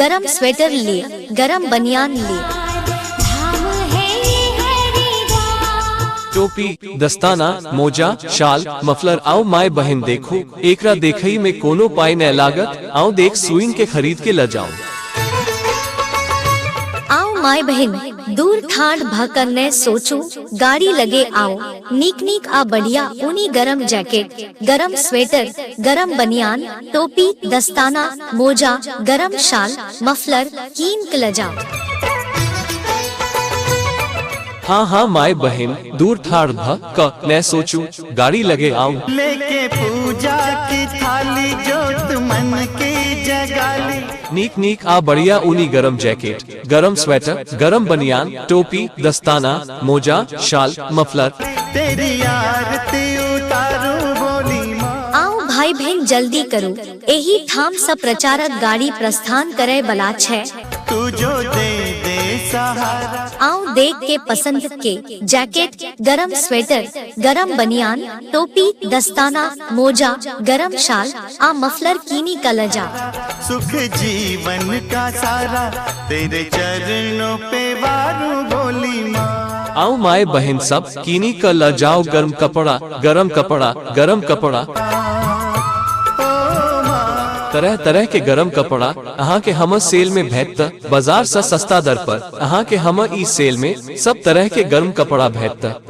गरम स्वेटर ली गरम बनियान ली धाम है ये हरिद्वार टोपी दस्ताना मोजा शाल मफलर आओ माय बहन देखो एकरा देखई में कोनो पाई न लागत आओ देख सुइन के खरीद के ल जाओ आओ माय बहन दूर ठाड़ भकर न सोचो गाड़ी लगे आओ नीक नीक आ बढ़िया ऊनी गरम जैकेट गरम स्वेटर गरम बनियान टोपी दस्ताना मोजा गरम शाल मफलर कीन कलजा हाँ हाँ माय बहन दूर थार भ क न सोचू गाड़ी लगे आऊं लेके पूजा की थाली जोत मन की जगाली नीक नीक आ बढ़िया ऊनी गरम जैकेट गरम स्वेटर गरम बनियान टोपी दस्ताना मोजा शाल मफलर तेरी आरती उतारू बोली माँ आउ भाई बहन जल्दी करू एही ठाम सँ प्रचारक गाड़ी प्रस्थान करय बला छै तू जो दे दे सहारा आउ देख के पसंद के जैकेट गरम स्वेटर गरम बनियान टोपी दस्ताना मोजा गरम शाल आ मफलर कीनी का लजा सुख जीवन का सारा तेरे चरणों पे वारू भोली माँ आओ माए बहन सब कीनी का लजाओ गरम कपड़ा गरम कपड़ा गरम कपड़ा तरह तरह के गरम कपड़ा अहाँ के हम सेल में भेजत बाजार से सस्ता दर पर अहाँ के हम ई सेल में सब तरह के गरम कपड़ा भेजत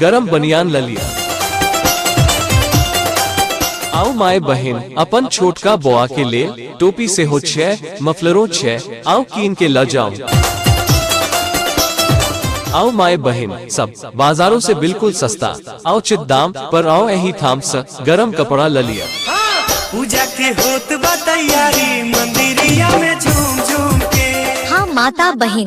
गरम बनियान ल लिया आओ माए बहन अपन छोटका बौआ के ले टोपी से हो छे मफलरो छे आओ कीन के ल जाओ आओ माए बहन सब बाजारों से बिल्कुल सस्ता आओ चित दाम पर आओ यही थाम स गरम कपड़ा ल लिया पूजा के होत बा तैयारी मंदिरिया में झूम झूम के हाँ माता बहन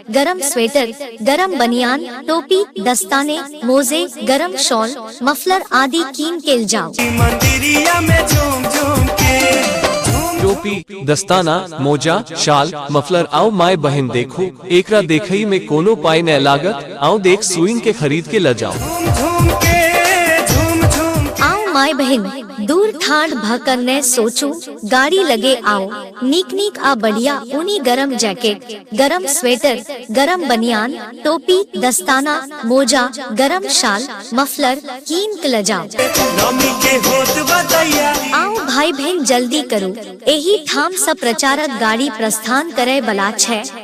गरम स्वेटर गरम बनियान टोपी दस्ताने मोजे गरम शॉल मफलर आदि कीन केल जाओ मंदिरिया में झूम झूम के टोपी दस्ताना मोजा शाल मफलर आओ माय बहन देखो एकरा देखई में कोनो पाई न लागत आओ देख सुइन के खरीद के ल जाओ झूम झूम के झूम झूम आओ माय बहन दूर ठाड भकन न सोचो गाड़ी लगे आओ नीक नीक आ बढ़िया ऊनी गरम जैकेट गरम स्वेटर गरम बनियान टोपी दस्ताना मोजा गरम शाल मफलर कीन के लजाओ नमी के होत बतैया आओ भाई बहन जल्दी करू एही ठाम से प्रचारक गाड़ी प्रस्थान करे बला छै